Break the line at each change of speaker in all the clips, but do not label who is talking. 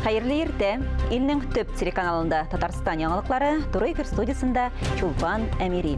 Хәерле иртә. Илнең төп телеканалында Татарстан яңалыклары Туры эфир студиясендә Чулпан Әмири.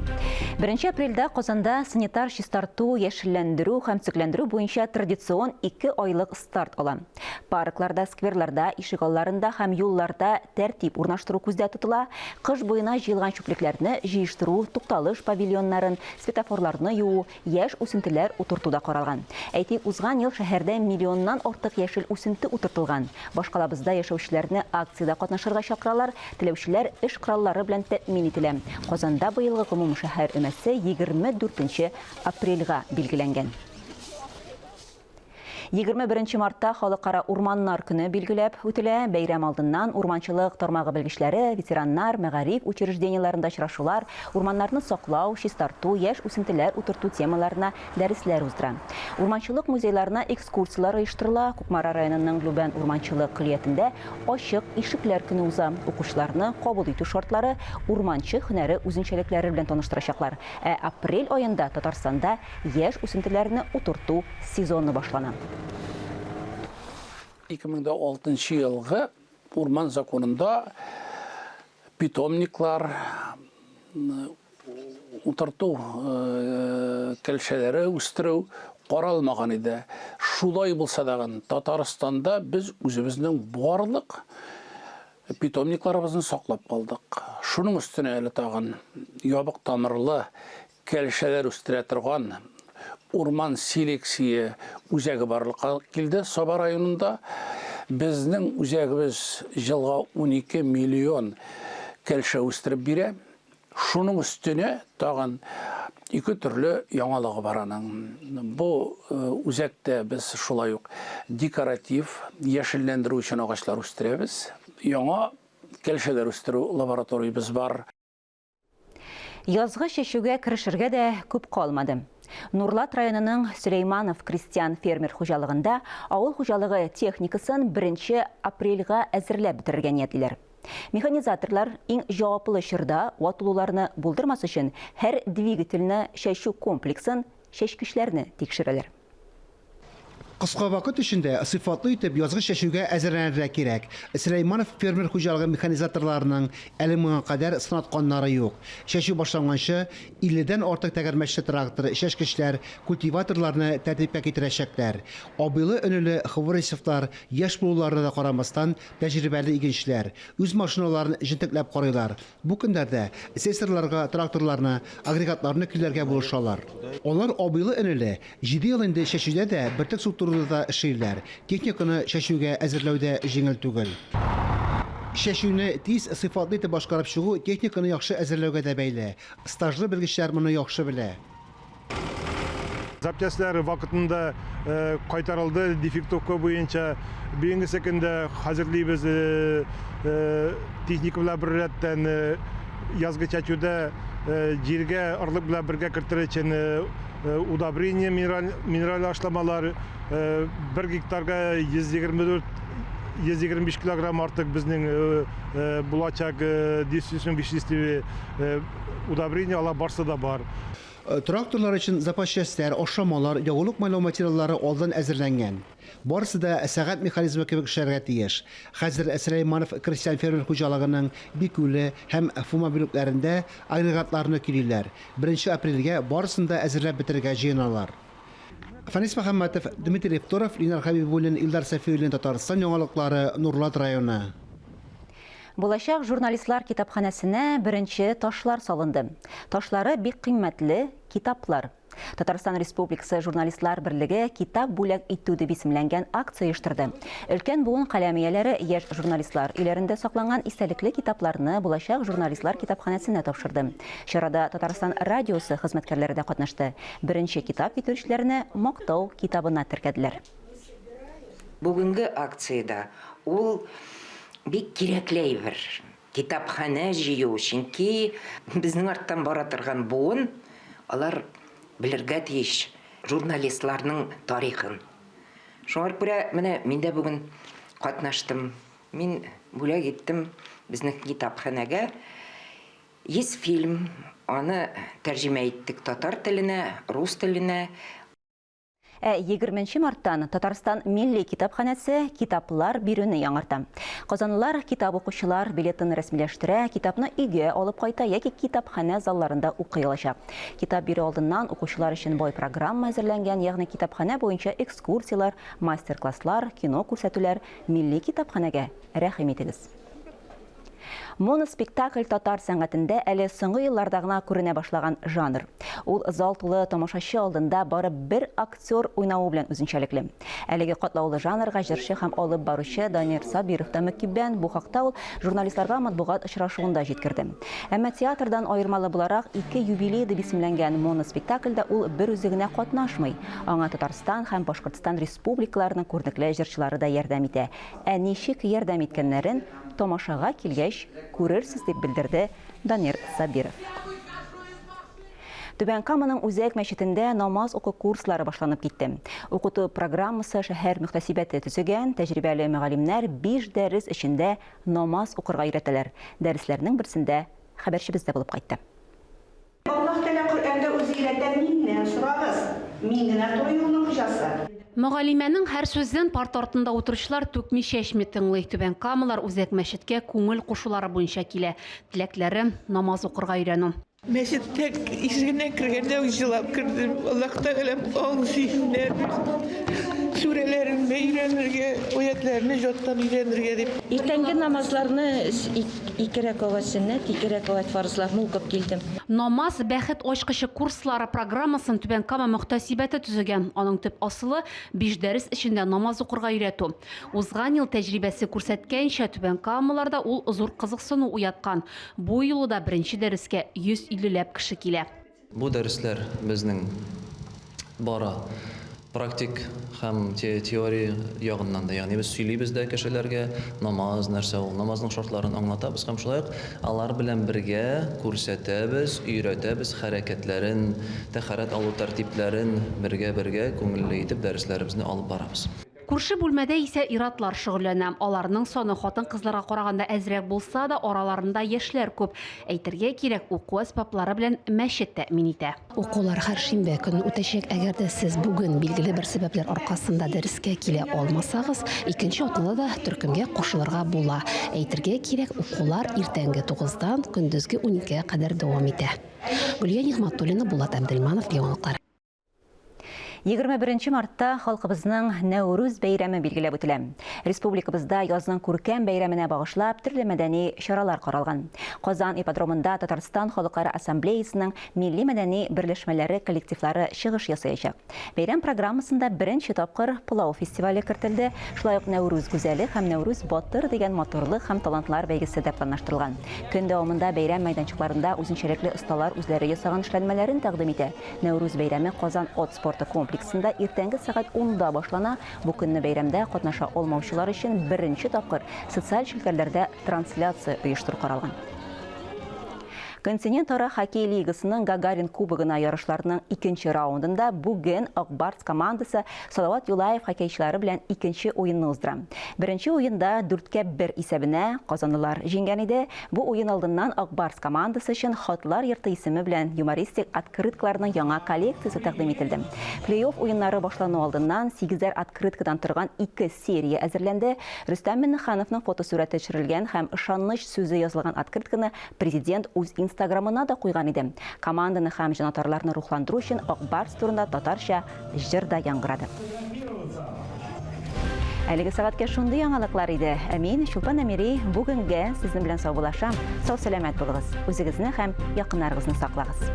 1 апрельдә Казанда санитар чистарту, яшелләндерү һәм төзекләндерү буенча традицион 2 айлык старт алам. Паркларда, скверларда, ишегалларында һәм юлларда тәртип урнаштыру күздә тотыла, кыш буена җыелган чүплекләрне җыештыру, тукталыш павильоннарын, светофорларны юу, яшь үсентеләр утырту да каралган. Әйтик, узган ел шәһәрдә миллионнан артык яшел үсенте утыртылган. Башкалабызда яшәүчеләрне акциядә катнашырга чакыралар, теләүчеләр эш кораллары белән тәэмин ителә. Казанда быелгы гомумшәһәр өмәсе 24 нче апрельгә билгеләнгән. Егерме беренче мартта Халыкара урманнар көне билгеләп үтелә. Бәйрәм алдыннан урманчылык тармагы белгечләре, ветераннар, мәгариф учреждениеләрендә очрашулар, урманнарны саклау, чистарту, яшь үсентеләр утырту темаларына дәресләр уздыра. Урманчылык музейларына экскурсияләр оештырыла. Кукмара районының Любән урманчылык көллиятендә Ачык ишекләр көне уза. Укучыларны кабул итү шартлары, урманчы һөнәре үзенчәлекләре белән таныштырачаклар. Ә апрель аенда Татарстанда Яшь үсентеләрне утырту сезоны башлана.
2006 елгы урман законында питомниклар, утырту кәлшәләре үстерү каралмаган иде. Шулай булса дагын, Татарстанда без үзебезнең барлык питомникларыбызны саклап калдык. Шуның өстенә әле тагын ябык тамырлы Кәлшәләр үстерә торган урман селекция үзәге барлыкка килде Саба районында. Безнең үзәгебез елга унике миллион кәлшә үстереп бирә. Шуның өстенә тагын ике төрле яңалыгы бар аның. Бу үзәктә без шулай ук декоратив, яшелләндерү өчен агачлар үстерәбез. Яңа кәлшәләр үстерү лабораториябез бар.
Язгы чәчүгә керешергә дә күп калмады. Нурлат районының Сөләйманов крестьян-фермер хуҗалыгында авыл хуҗалыгы техникасын 1 апрельга әзерләп бетерергә ниятлиләр. Механизаторлар иң җаваплы чорда ватылуларны булдырмас өчен һәр двигательне, чәчү комплексын, чәчкечләрне тикшерәләр.
Кыска вакыт эчендә сыйфатлы итеп язгы чәчүгә әзерләнергә кирәк. Сөләйманов фермер хуҗалыгы механизаторларының әле моңа кадәр сынатканнары юк. Чәчү башланганчы, 50 дән артык тәгәрмәчле трактор, чәчкечләр, культиваторларны тәртипкә китерәчәкләр. Абыйлы-энеле Хворисовлар яшь булуларына да карамастан, тәҗрибәле игенчеләр. Үз машиналарын җентекләп карыйлар. Бу көннәрдә сессорларга тракторларны, агрегатларны көйләргә булышалар. Алар абыйлы-энеле, җиде ел инде чәчүдә дә, бөртек суктыруда да эшлиләр. Техниканы чәчүгә әзерләү дә җиңел түгел. Чәчүне тиз, сыйфатлы итеп башкарып чыгу техниканы яхшы әзерләүгә дә бәйле. Стажлы белгечләр моны яхшы белә.
Запчастьләр вакытында кайтарылды дефектовка буенча. Бүгенгесе көндә хәзерлибез техника белән бер рәттән язгы чәчүдә җиргә орлык белән бергә кертер өчен удобрение минераль минераль ашламалар бер гектарга 124 125 килограмм артык безнең булачак дисусның веществе удобрение алар барсы да бар. Тракторлар
өчен запас частьләр, ашламалар, ягулык-майлау материаллары алдан әзерләнгән. Барысы да сәгать механизмы кебек эшләргә тиеш. Хәзер Сөләйманов крестьян-фермер хуҗалыгының Бикүле һәм Фома бүлекләрендә агрегатларны көйлиләр, беренче апрельгә барысын да әзерләп бетерергә җыеналар. Фәнис Мөхәммәтов, Дмитрий Птуров, Линар Хәбибуллин, Илдар Сафиуллин, Татарстан яңалыклары, Нурлат районы.
Булачак журналистлар китапханәсенә беренче ташлар салынды. Ташлары бик кыйммәтле, китаплар. Татарстан Республикасы Журналистлар берлеге Китап бүләк итү дип исемләнгән акция оештырды. Өлкән буын каләм ияләре яшь журналистлар өйләрендә сакланган истәлекле китапларны булачак журналистлар китапханәсенә тапшырды. Чарада Татарстан радиосы хезмәткәрләре дә катнашты. Беренче китап китерүчеләрне Мактау китабына теркәделәр.
Бүгенге акциядә ул бик кирәкле әйбер, китапханә җыю, чөнки безнең арттан бара торган буын, алар белергә тиеш журналистларның тарихын. Шуңар күрә менә мин дә бүген катнаштым, мин бүләк иттем безнең китапханәгә 100 фильм, аны тәрҗемә иттек татар теленә, рус теленә. Ә
егерменче марттан Татарстан милли китапханәсе китаплар бирүне яңарта. Казанлылар китап укучылар билетын рәсмиләштерә, китапны өйгә алып кайта яки китапханә залларында укый алачак. Китап бирү алдыннан укучылар өчен бай программа әзерләнгән, ягъни китапханә буенча экскурсияләр, мастер-класслар, кино күрсәтүләр. Милли китапханәгә рәхим итегез! Моноспектакль татар сәнгатендә әле соңгы елларда гына күренә башлаган жанр. Ул зал тулы тамашачы алдында бары бер актер уйнавы белән үзенчәлекле. Әлеге катлаулы жанрга җырчы һәм алып баручы Данир Сабиров та мөкиббән, бу хакта ул журналистларга матбугат очрашуында җиткерде. Әмма театрдан аермалы буларак, ике юбилей дип исемләнгән моноспектакльдә ул берүзе генә катнашмый. Аңа Татарстан һәм Башкортстан республикаларының күренекле җырчылары да ярдәм итә. Ә ничек ярдәм иткәннәрен тамашага килгәч күрерсез, дип белдерде Данир Сабиров. Түбән Каманың үзәк мәчетендә намаз уку курслары башланып китте. Укыту программасы шәһәр мөхтәсибәте төзегән, тәҗрибәле мөгаллимнәр биш дәрес эчендә намаз укырга өйрәтәләр. Дәресләрнең берсендә хәбәрчебез дә булып кайтты. Аллаһ
Тәгалә Коръәндә үзе өйрәтә Миннән сорагыз, Мин генә туры юлның хуҗасы. Мөгаллимәнең һәр
сүзен парта артында утыручылар түкми-чәчми тыңлый, Түбән Камалар Үзәк мәчеткә күңел кушулары буенча килә, теләкләре, намаз укырга өйрәнү. Мәчеткә
ишегеннән кергәндә үк җылап кердем, Аллаһ Тәгаләм аң зиһеннәр бирсен, сүрәләреңне өйрәнергә, аятьләрне җаттан өйрәнергә дип. Иртәнге намазларны
Ике рәкагать сөннәт, ике рәкагать фарызларны укып килдем. Намаз, бәхет
ачкычы курслары программасын Түбән Кама мөхтәсибәте төзегән. Аның төп асылы, биш дәрес эчендә намаз укырга өйрәтү. Узган ел тәҗрибәсе күрсәткәнчә, түбәнкамалыларда ул зур кызыксыну уяткан. Бу юлы да беренче дәрескә 150 ләп кеше килә. Бу дәресләр
безнең бара практик һәм теория ягыннан да, ягъни без сөйлибез дә кешеләргә, намаз нәрсә ул, намазның шартларын аңлатабыз һәм шулай ук алар белән бергә күрсәтәбез, өйрәтәбез хәрәкәтләрен, тәһарәт алу тәртипләрен бергә-бергә күңелле итеп дәресләребезне алып барабыз. Күрше бүлмәдә
исә ир-атлар шөгыльләнә. Аларның саны хатын-кызларга караганда әзрәк булса да, араларында яшьләр күп. Әйтергә кирәк, уку әсбаплары белән мәчет тәэмин итә. Укулар һәр шимбә
көнне үтәчәк. Әгәр дә сез бүген билгеле бер сәбәпләр аркасында дәрескә килә алмасагыз, икенче атнада да төркемгә кушылырга була. Әйтергә кирәк, укулар иртәнге тугыздан көндезге уникегә кадәр дәвам итә. Гөлия Нигъмәтуллина, Булат Әбделманов, Яңалыклар. 21
мартта халкыбызның Нәүрүз бәйрәме билгеләп үтелә. Республикабызда язның күркәм бәйрәменә багышлап төрле мәдәни чаралар каралган. Казан ипподромында Татарстан халыклары ассамблеясының милли-мәдәни берләшмәләре коллективлары чыгыш ясаячак. Бәйрәм программасында беренче тапкыр Пылау фестивале кертелде, шулай ук Нәүрүз гүзәле һәм Нәүрүз батыр дигән матурлык һәм талантлар бәйгесе дә планлаштырылган. Көн дәвамында бәйрәм мәйданчыкларында үзенчәлекле осталар үзләре ясаган эшләнмәләрен тәкъдим итә. Нәүрүз бәйрәме Казан от спорты комплексында иртәнге сәгать 10-да башлана. Бу көнне бәйрәмдә катнаша алмаучылар өчен беренче тапкыр социаль челтәрләрдә трансляция оештыру каралган. Континентара хоккей лигасының Гагарин кубогына ярышларының икенче раундында бүген Акбарс командасы Салават Юлаев хоккейчылары белән икенче уенны уздыра. Беренче уенда дүрткә бер исәбенә казанлылар җиңгән иде. Бу уен алдыннан Ак Барс командасы өчен Хатлар йорты исеме белән юмористик открыткаларның яңа коллекциясе тәкъдим ителде. Плей-офф уеннары башлану алдыннан сигезәр открыткадан торган ике серия әзерләнде. Рөстәм Миңнехановның фотосурәте төшерелгән һәм ышаныч сүзе язылган открытканы президент үз инстаграмына да куйган иде. Команданы һәм җанатарларны рухландыру өчен Ак Барс турында татарча җыр да яңгырады. Әлеге сәгатькә шундый яңалыклар иде. Ә мин, Чулпан Әмири, бүгенгә сезнең белән саубуллашам. Сау-сәламәт булыгыз, үзегезне һәм якыннарыгызны саклагыз.